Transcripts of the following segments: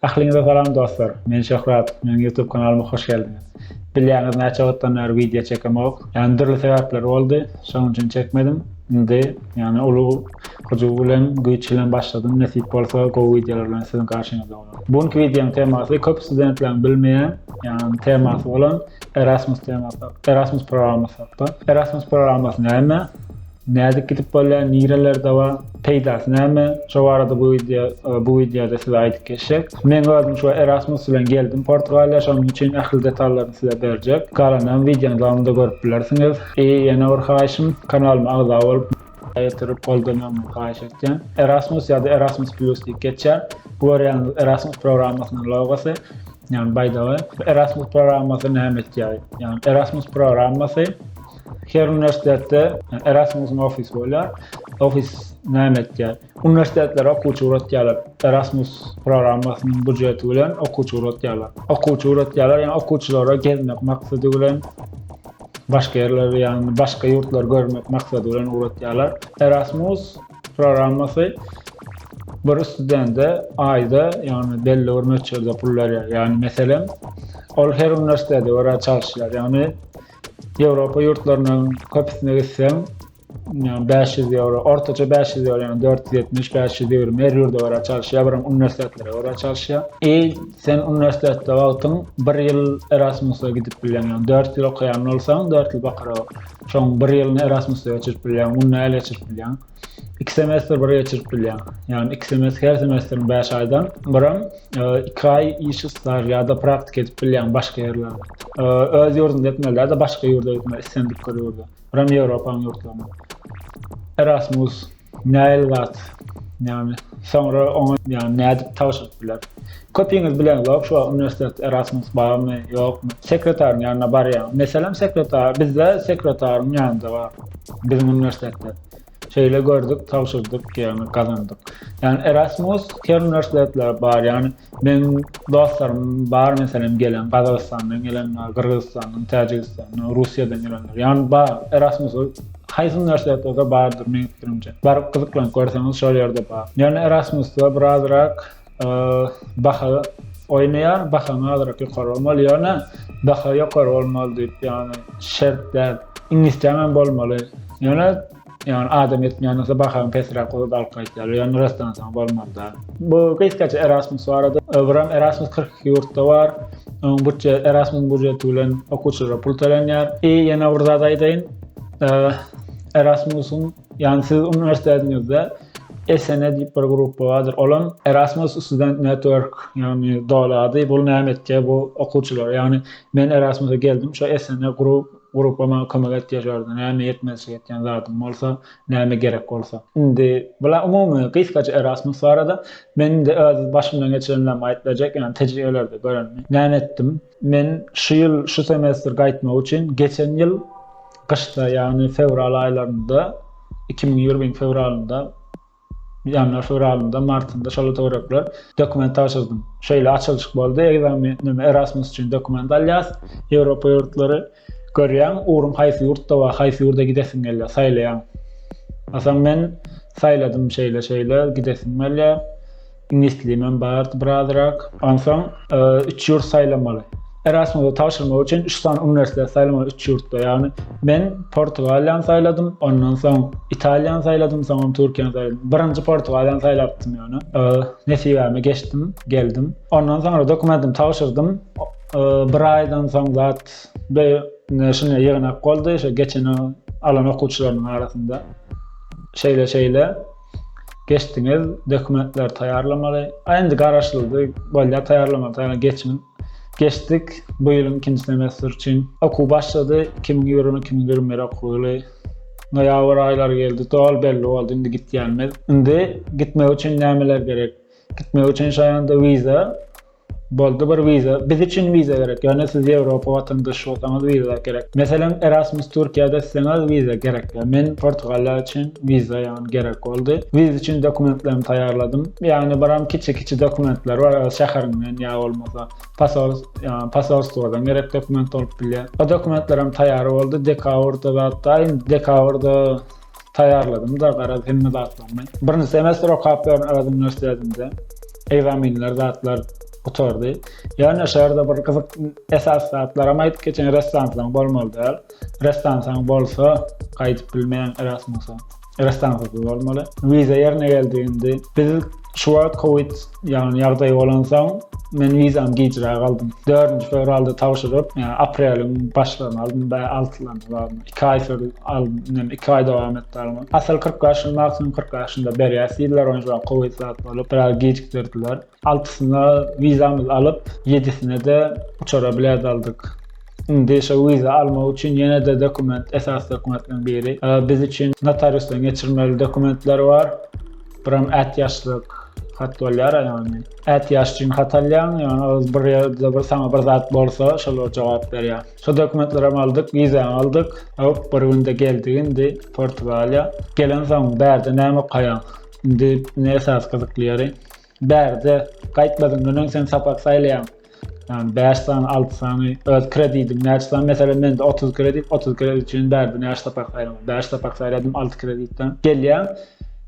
Ähliňize salam dostlar! Men Şöhrat. Meniň YouTube kanalyma hoş geldiňiz. Bilýäňiz näçe wagtdan bäri wideo çekemok. Ýagny dürli sebäpler boldy. Şonuň üçin çekmedim. Indi ýagny uly hyjuw bilen, güýç bilen başladym. Nesip bolsa gowy wideolar bilen siziň garşyňyzda bolaryn. Bu günki wideoň temasy köp studentleriň bilmeýän ýagny temasy bolan Erasmus temasy hakda, Erasmus programmasy hakda. Erasmus programmasy näme? Nädip gidip bolýar nirelerde bar peýdasy näme şo barada bu wideo bu wideoda size aýdyp geçjek. Meň özüm şu Erasmus bilen geldim Portugaliýa şonuň üçin ähli detallaryny size berjek. Galanyny wideonyň dowamynda görüp bilersiňiz. I ýene bir haýyşym kanalyma agza bolup ýetirip goldamagyňyzy haýyş etýän. Erasmus ýa-da Erasmus Plus diýip geçýär. Bu görýäniz Erasmus programmasynyň logosy. Ýagny baýdagy. Erasmus programmasy näme etýär? Ýagny Erasmus programmasy Her uniwersitetde Erasmusyň ofisy bolýar. Ofis näme etýär? Uniwersitetler okuwçy ugratýarlar. Erasmus programmasynyň býujeti bilen okuwçy ugratýarlar. Okuwçy ugratýarlar, ýöne okuwçylara gezmek maksady bilen başga ýerleri, ýagny başga ýurtlary görmek maksady bilen ugratýarlar. Erasmus programmasy bir studende aýda, ýagny belli bir möçberde pul berýär. Ýagny meselem, ol her uniwersitetde görä çalyşýar. Ýagny Ýewropa ýurtlarynyň köpüsine gitseň, ýa bäş ýüz ýewro, ortaça bäş ýüz ýewro, ýa dört ýüz ýetmiş, bäş ýüz ýigrimi, her ýurda görä çalyşýar, bir hem uniwersitetlere görä çalyşýar. I sen uniwersitetde wagtyň bir ýyl Erasmusa gidip bilýäň, ýagny dört ýyl okaýan bolsaň, dört ýyl bakaraok, şoň bir ýylyny Erasmusda geçirip bilýäň, munda el geçirip bilýäň. iki semestr bir geçirip bilýäň. Ýagny iki semestr, her semestriň 5 aýdan birim 2 aý iş staž ýa-da praktika edip bilýäň başga ýerlerde. Öz ýurdunda etmeli ýa-da başga ýurda gitmeli, islendik bir ýurda. Birim Ýewropanyň ýurtlarynda. Erasmus nähili zat? Ýagny soňra oňa ýagny nädip tabşyryp biler? Köpiňiz bileňizok şu wagt uniwersitet Erasmus barmy, ýokmy. Sekretaryň ýanyna barýaň. Meselem sekretar bizde sekretaryň ýanynda bar. Biziň uniwersitetde. Şeýle gördük, tabşyrdyk, ýagny gazandyk. Ýagny Erasmus her uniwersitetlere bar. Ýagny meň dostlarym bar meselem gelen Gazagystandan gelen bar, Gyrgyzystandan, Täjigistandan, Russiýadan gelenler. Ýagny bar. Erasmus haýsy uniwersitetlerde bardyr meň pikirimje. Baryp gyzyklanyp görseňiz şol ýerde bar. Ýöne Erasmusda birazrak baha oýnaýar, bahaň azyrak ýokary bolmaly, ýöne baha ýokary bolmaly diýip, ýagny şert däl. Iňlisçäm hem bolmaly. Ýöne ýagny adam etmeýän bolsa bahaň pesräk bolup alyp gaýtýar. Ýöne rastdan soň bolmaly däl. Bu gysgaça Erasmus barada. Öbürem Erasmus 42 ýurtda bar. Onuň bütje Erasmus budjeti bilen okuwçylara pul tölenýär. I ýene bir zat aýdaýyn. Erasmusyň Ýagny siz uniwersitetiňizde SNE diýip bir gruppa bardyr. Olam Erasmus Student Network, ýagny doly ady. Bu näme etýär bu okuwçylara? Ýagny men Erasmusa geldim, şo SNE grup grupba maňa kömek etýär şolarda. Näme ýetmezçilik etýän zadym bolsa, näme gerek bolsa. Indi bula umumy gysgaça Erasmus barada. Men indi öz başymdan geçirenlerimi aýyp berjek, ýagny tejribelerde görenimi. Näme etdim? Men şu ýyl şu semestr gaýtmak üçin geçen ýyl gyşda ýagny fewral aýlarynda iki müň ýigriminiň fewralynda ýanwar fewralynda martynda şol töwerekler dokument tabşyrdym şeýle açylyşyk boldy ekzamenim erasmus üçin dokument alýas ýewropa ýurtlary Görýäň, ugrum haýsy ýurtda bar, haýsy ýurda gidesim gelýär, saýlaýaň. Atam men saýladym şeýle-şeýle, gidesim gelýär. Iňlis dilimem bardy birazrak. Onsoň üç ýurt saýlamaly. Erasmusa tabşyrmak üçin üç sany uniwersitet saýlamaly üç ýurtda. Ýagny men Portugaliýany saýladym, ondan soň Italiýany saýladym, soňam Türkiýany saýladym. Birinji Portugaliýany saýlapdym ýöne. Nesibäme geçdim, geldim. Ondan soňra dokumentimi tabşyrdym. Bir aýdan soň zat be ne şine ýygnak boldy şo geçen o alan okuwçylarynyň arasynda şeýle şeýle geçdiňiz dokumentler taýýarlamaly a indi garaşyldy bolýar taýýarlamaly taýýarlamaly geçiň geçdik bu ýylyň ikinji semestr üçin okuw başlady iki müň ýigrimi iki müň ýigrimi bir okuw ýyly noýabr aýlary geldi doly belli boldy indi gitýänimiz indi gitmek üçin nämeler gerek gitmek üçin şaýanda wiza Boldy bir wiza, biz üçin wiza gerek, ýöne siz Ýewropa watandaşy bolsaňyz wiza gerek. Meselem Erasmus Türkiýede isleňiz wiza gerek ýa men Portugaliýa üçin wiza ýagny gerek boldy. Wiza üçin dokumentlerimi taýýarladym. Ýagny biram kiçi kiçi dokumentler bar öz şäheriňden ýa bolmasa pasol ýagny pasolstwodan gerek dokument bolup bilýär. O dokumentlerem taýýar boldy dekabr da zatdaýyn dekabr da Taýýarladym-da garaz hemme zatlarymy. Birinji semestr okap ýörün öz uniwersitetinde. Ekzaminler zatlar gutardy. Ýöne şerda bir gyzyk esasy zatlaram aýdyp geçeýin ressansaň bolmaly däl. Ressansaň bolsa gaýdyp bilmeýäň erasmusa. Ressansasyz bolmaly. Wiza ýerine geldi indi. Biz şu wagt covid Ýagny ýagdaý bolansoň, men wizamy gijräk aldym. Dördünji fewralda tabşyryp, ýa apreliň başlaryna aldym, bä altylaryna barmy, iki aý sürdü, aldym, indem iki aý dowam etdi alma. Asyl kyrk bäşini maksimum kyrk bäşinde berýäs diýdiler, ony juda gowy zat bolup, biraz gijikdirdiler. Altysyna wizamyzy alyp, ýedisine-de uçara bilet aldyk. Indi şo wiza almak üçin ýene-de dokument, esasy dokumentleriň biri, biz üçin notariusdan geçirmeli dokumentler bar. Biram ätiýaçlyk hat bolýar-a ýagny. Ätiýaç üçin hat alýaň, ýagny ol bir ýerde bir saňa bir zat bolsa, şolar jogap berýär. Şo dokumentlerem aldyk, wizäňi aldyk. Hop, bir günde geldik indi Portugaliýa. Gelensoň, bärde näme okaýaň? Indi ne esasy gyzykly ýeri? Bärde gaýtmazyňdan öň sen sapak saýlaýaň. Ýagny bäş sany, alty sany öz kredidim näçe sany? Meselem, mende otuz kredit, otuz kredit üçin bärde näçe sapak saýlamaly? Bäş sapak saýladym, alty kreditden gelýär.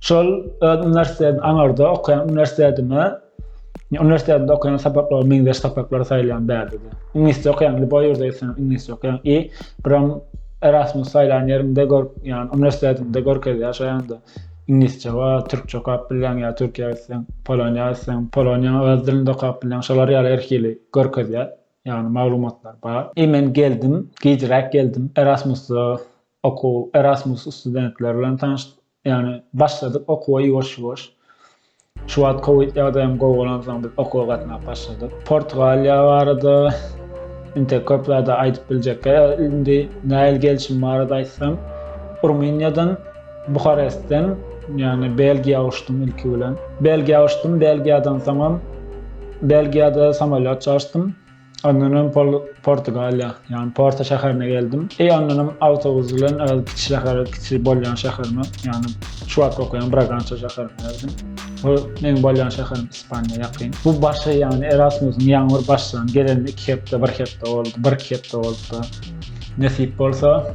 Şol öz uniwersitetim aňarda okaýan uniwersitetime, uniwersitetde okaýan sapaklaryma meňzeş sapaklary saýlaýan bärde-de. Iňlisçe okaýan, lýuboý ýurda gitseňem iňlisçe okaýan i biram Erasmus saýlan ýeriňde gör, ýagny uniwersitetiňde görkezýär şaýanda. Iňlisçe bar, türkçe okap bilýäň ýa Türkiýä gitseň, Poloniýa gitseň, Poloniýanyň öz dilinde okap bilýäň. Şolar ýaly her hili görkezýär. Ýagny maglumatlar bar. I men geldim, gijräk geldim. Erasmusda okuw, Erasmus studentleri bilen tanyşdyk. Ýagny başladyk okuwa ýuwaş-ýuwaş. Şu wagt covid ýagdaýym gowalansoň biz okuwa gatnap başladyk. Portugaliýa barada inte köp zady aýdyp biljekge indi näil gelşim barada aýtsam Rumyniýadan Buharestden ýagny Belgiýa uçdum ilki bilen. Belgiýa uçdum Belgiýadan soňam Belgiýada samolýot çalyşdym. Ondanam Portugaliýa, ýagny Porto şäherine geldim. E ondanam awtobus bilen öz kiçi şähere, kiçi bolýan şäherime, ýagny şu wagt okaýan Bragança şäherine geldim. Bu meň bolýan şäherim Ispaniýa ýakyn. Bu başy, ýagny Erasmusyň ýaňyr başlan, gelenine iki hepde, bir hepde boldy, bir-iki hepde bolupdyr. Nesip bolsa,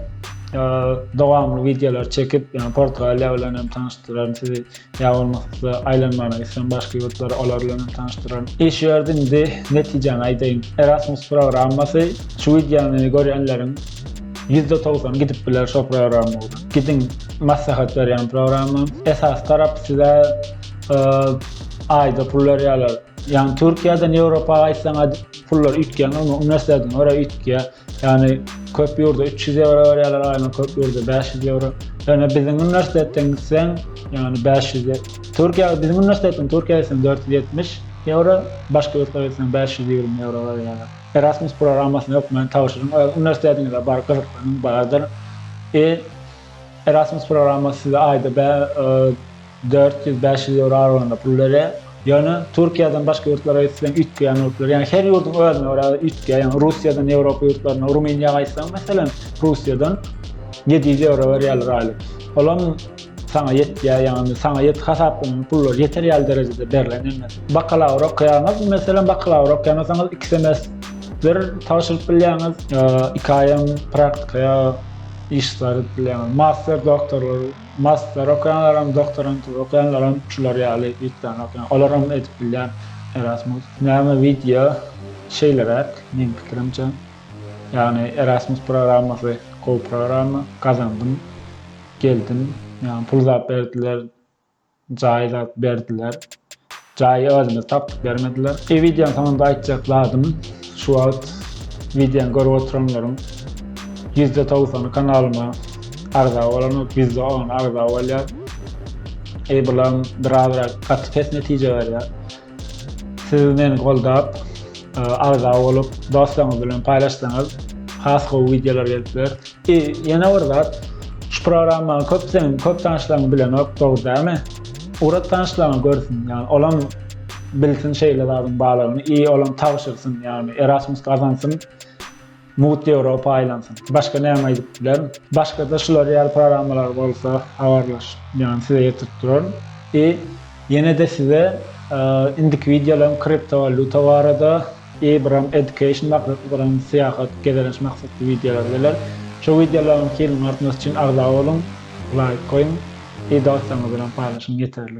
dowamly wideolar çekip, ýagny Portugaliýa bilen hem tanyşdyraryn sizi. Ýa bolmasa aýlanmagyna gitseň başga ýurtlara, olar bilen hem tanyşdyraryň. Iş ýördi indi netijäni aýdaýyn. Erasmus programmasy şu wideony görýänleriň ýüzde togsany gidip biler şo programma bilen. Gidiň maslahat berýän programma. Esas tarap size aýda pul berýärler. Ýagny Türkiýeden Ýewropa gaýtsaňa pullar üýtgeýär, normal uniwersitetiňe görä üýtgeýär. Ýagny köp ýurda üç ýüz ýewro berýärler aýlyk, köp ýurda bäş ýüz ýewro. Ýöne biziň uniwersitetden gitseň, ýagny bäş ýüz ýe-, Türkiýä, biziň uniwersitetden Türkiýä gitseň dört ýüz ýetmiş ýewro, başga ýurtlara gitseň bäş ýüz ýigrimi ýewro berýärler. Erasmus programmasyny hökmany tabşyryň, öz uniwersitetiňize baryp gyzyklanyň bardyr. I. Erasmus programmasy size aýda bä-, Dört ýüz, bäş ýüz ýewro aralygynda pul berýär. Ýöne Türkiýeden başga ýurtlara gitseň üýtgeýän ýurtlar, ýagny her ýurduň özüne görä üýtgeýär. Ýagny Russiýadan Ýewropa ýurtlaryna, Rumyniýa gaýtsaň meselem, Russiýadan ýedi ýüz ýewro berýärler aýlyk. Olam saňa ýetýär, ýagny saňa ýet hasaplanan pullar ýeter ýaly derejede berlen ýene. Bakalawr okaýaňyz, meselem bakalawr okaýan bolsaňyz iki semestr tabşyryp bilýäňiz, iki aýam praktika ýa iş staž edip bilýäňiz. Master doktorlar. Master okaýanlaram, doktorantura okaýanlaram şular ýaly wiktany okaýan. Olaram edip bilýän Erasmus. Näme wideo şeýleräk meň pikirimçe. Ýagny Erasmus programmasy gowy programma. Gazandym. Geldim. Ýagny pul zat berdiler. Jaýy da berdiler. Jaýy özümiz tapyp bermediler. Eý wideoň soňunda aýtjak zadym şu wagt wideony görüp oturanlaryň ýüzde togsany kanalyma agza bolanok, ýüzde ony agza bolýar. Eý bulam birazrak gaty pes netije berýär. Siz meni goldap, agza bolup, dostlaryňyz bilen paýlaşsaňyz, has gowy wideolar gelip biler. I, ýene bir zat, şu programmany köp seniň köp tanyşlaryň bilenok, dogry dälmi? Ugrat tanyşlaryňa görsün, ýagny olam bilsin şeýle zadyň barlygyny i olam tabşyrsyn, ýagny Erasmus gazansyn. Mugt Ýewropa aýlansyn. Başga näme aýdyp bilerin. Başgada şular ýaly programmalar bolsa habarlaş ýagny size ýetirip duraryn. I ýenede size indiki wideolaryň kriptowaluta barada I biram education maksatly biram syýahat gezelenç maksatly wideolar geler. Şo wideolaryň hiliniň artmasy üçin agza boluň, laýk goýuň I dostlaryňyz bilen paýlaşyň ýeterlik.